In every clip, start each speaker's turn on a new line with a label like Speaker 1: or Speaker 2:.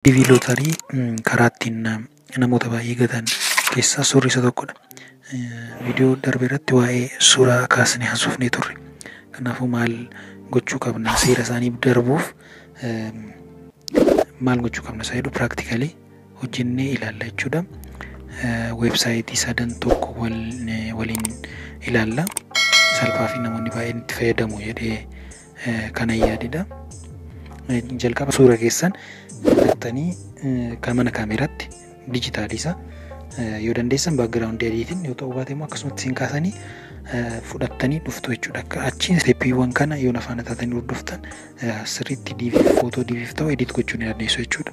Speaker 1: Iv Lootarii karaa ittiin namoota baay'ee gatan keessaa suurri isa tokkodha. Viidiyoo darbe irratti waa'ee suuraa kaasnee haasofnee turre. Kanaafuu maal gochuu qabna seera isaanii darbuuf maal gochuu qabna isa jedhu piraaktikalii hojjennee ilaalla jechuudha. Weebsaayitii sadan tokko waliin ilaalla. Salphaa fi namoonni baay'een itti fayyadamu jedhee kana yaadidha. Jalqaba suura keessan filattanii kan mana kaameeraatti dijitaaliisa yoo dandeessan baakgiraawundii adiitiin yoo ta'uu baate immoo akkasumatti isin kaasanii fudhattanii dhuftu jechuudha. Akka achiin isteeppiiwwan kana yoo nafaana taatanii hordoftan sirriitti diiviif footoo diiviif ta'u edit gochuu ni dandeessu jechuudha.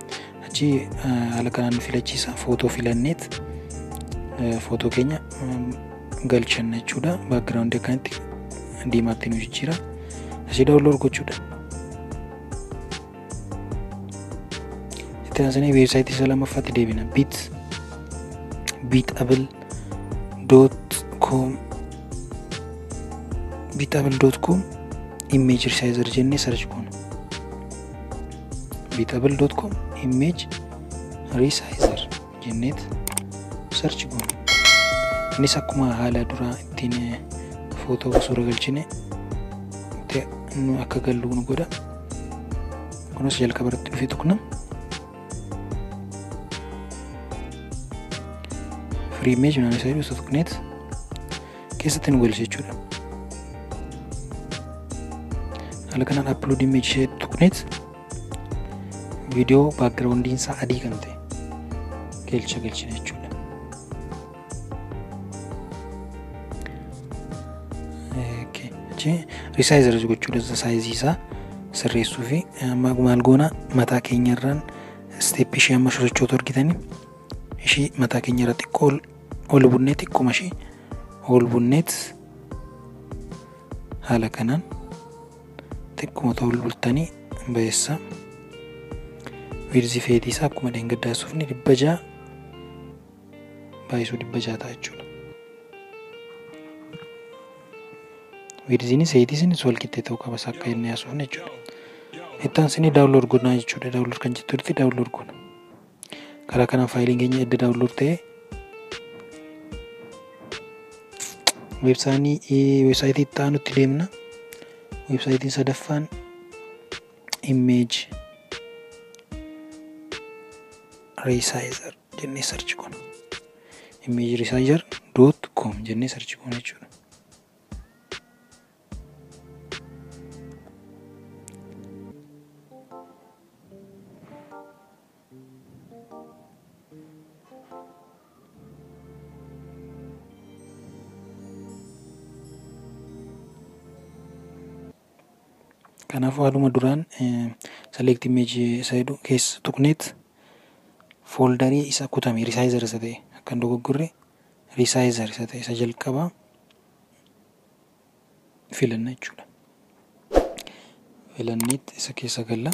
Speaker 1: Achi haala kanaan nu filachiisa footoo filanneet footoo keenya galchanna jechuudha. Baakgiraawundi akkanatti diimaatti nu jijjiira. Asii daawunlood gochuudha. Itti aansinee weebsaayitii isa lammaffaatti deebina. Bit bitabl dot com bitabl dot com image resizer jennee search goona. bitabl dot com image resizer jenneet search goona innis akkuma haala duraa ittiin footoo suura galchine nu akka gallu nu godha kunis jalqaba irratti dhufee tuqna free image naan isa jedhu isa tuqneet keessatti nu galcha jechuudha. Haala kanaan upload image ishee tuqneet viidiyoo baakgiraawundiin isaa adii kan ta'e galcha galchina jechuudha. Risaayizer gochuu dansa saayizii isaa sirreessuu fi maal goona mataa keenyarraan isteeppii ishee amma sosochootu argitanii ishii mataa keenyarra xiqqoo Olbunnet akkuma ishee olbunnet haala kanaan xiqquma ta'uu bultanii bayeessa wiirzii feetii isaa akkuma dheengaddaa suufni dhibba ja'a baay'isuu dhibba ja'a ta'a jechuudha. Wiirziinis heetiisinis wal qixxee ta'uu qabas akka inni haasofne jechuudha. Ittaan sinii daawunlood godhaa jechuudha. Daawunlood kan jettu irratti daawunlood godha. karaa kanaan faayiliin keenya edda daawunlood ta'e weebsaayitii itti aanutti deemna weebsaayitiin sadaffaan image resizer jennee sarchi goona image resizer dot com jennee sarchi goona jechuudha Kanaafuu haaluma duraan select image isa jedhu keessa tuqneet fooldarii isa kutame resizer isa ta'e akkan dogoggorre resizer isa ta'e isa jalqabaa filanna jechuudha. Filanneet isa keessa galla.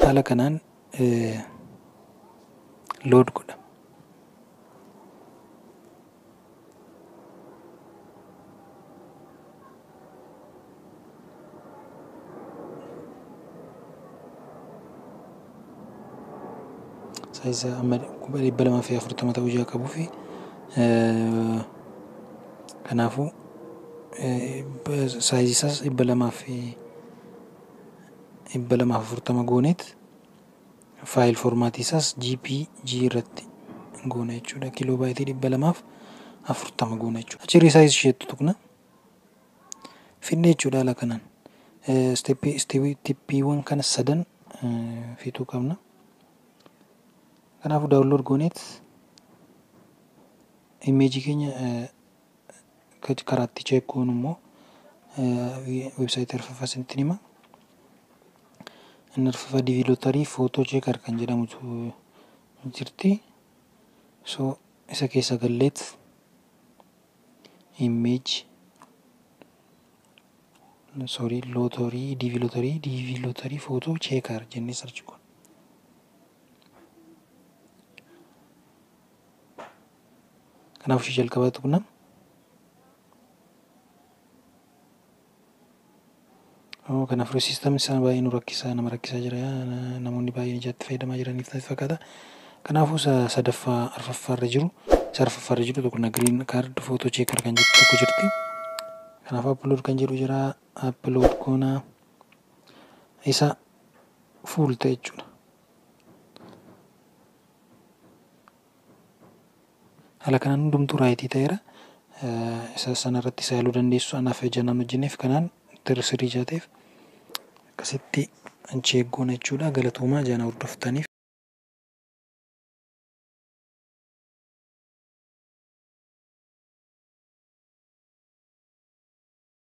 Speaker 1: Haala kanaan load godha. Saayiza amma kuma dhibba lamaa fi afurtama ta'uu ijaa qabuu fi kanaafuu saayizi isaas dhibba lamaa fi dhibba lamaa fi afurtama gooneet faayil foormaatii isaas GPG irratti goona jechuudha. Kiloo baayitii dhibba lamaaf afurtama goona jechuudha. Achi irra saayizi isheetti tuqna. fidna jechuudha haala kanaan. Isteeppii isteeppii tippiiwwan kana sadan fixuu qabna. Kanaafuu daawunlood gooneet imeejii keenya karaatti cheek goonu immoo websaayitii arfaffaa isinitti hima. Inni arfaffaa diivii lootarii footoo cheekar kan jedhamutu jirti. So isa keessa galleet image sorry lottery dv lottery dv lottery photo checker jennee search kun kanaaf ishee jalqabaa tuqna Oh kana fure system isaa baay'ee nu rakkisaa nama rakkisaa jira namoonni baay'een ijaatti fayyadamaa jiraniif natti fakkaata. Kanaafuu isa sadaffaa arfaffaa irra jiru isa arfaffaa irra jiru tokko na green card photo checker kan jirtu tokko jirti. Kanaaf upload kan jedhu jira upload goona isa full ta'e jechuudha. Haala kanaan hundumtuu raayitii ta'eera. Isa sana irratti isa yaaluu dandeessu anaaf ija nan hojjenneef kanaan tirri sirrii jaateef akkasitti anchi eeggoona jechuudha. Galatoomaa jaana hordoftaniif.